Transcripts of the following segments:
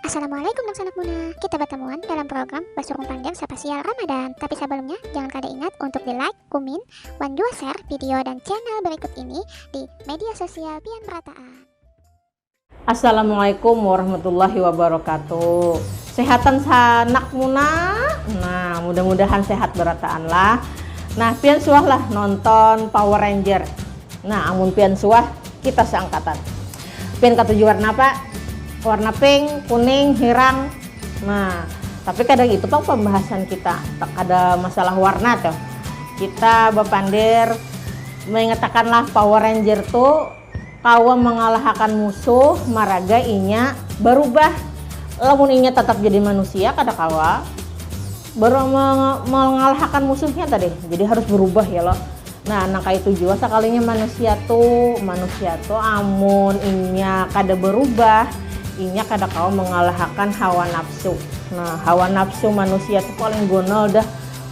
Assalamualaikum Nang Sanak Muna. Kita bertemuan dalam program Basurung Panjang Spesial Ramadan. Tapi sebelumnya, jangan kada ingat untuk di like, kumin, wan jua share video dan channel berikut ini di media sosial pian merataan. Assalamualaikum warahmatullahi wabarakatuh. Sehatan sanak muna. Nah, mudah-mudahan sehat berataan lah. Nah, pian suahlah nonton Power Ranger. Nah amun pian suah kita seangkatan. Pian katuju warna apa? Warna pink, kuning, hirang. Nah tapi kada ngitu pang pambahasan kita, kada masalah warna tuh. Kita bapandir maingatakanlah Power Ranger tu kawa mangalahakan musuh maraga inya barubah. Lamun inya tatap jadi manusia kada kawa. Baru mengalahakan musuhnya tadi, jadi harus berubah ya loh. Nah, nang kaya itu jua sakalinya manusia tu, manusia tu amun inya kada berubah, inya kada kawa mengalahakan hawa nafsu. Nah, hawa nafsu manusia tu paling gonol dah.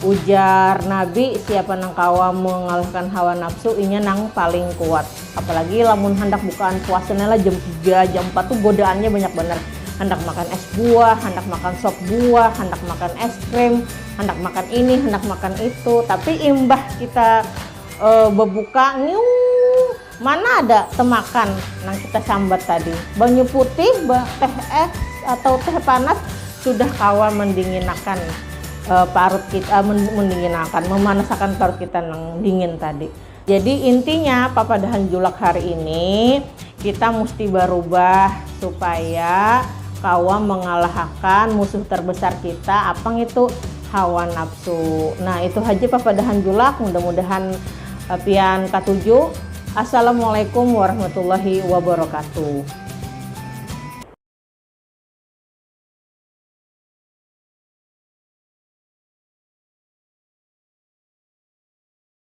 Ujar Nabi, siapa nang kawa mengalahakan hawa nafsu, inya nang paling kuat. Apalagi lamun handak bukaan puasa ne lah jam tiga, jam empat tu godaannya banyak banar. Handak makan es buah, handak makan sop buah, handak makan es krim, handak makan ini, handak makan itu. Tapi imbah kita bebuka ngiung mana ada temakan nang kita sambat tadi. Banyu putih, teh es atau teh panas sudah kawa mendinginakan parut kita, mendinginakan, memanasakan parut kita nang dingin tadi. Jadi intinya papadahan julak hari ini kita musti barubah supaya kawa mangalahakan musuh tarbesar kita apa ngitu hawa nafsu. Nah itu haja papadahan julak mudah-mudahan eh, pian katuju. Assalamualaikum warahmatullahi wabarakatuh.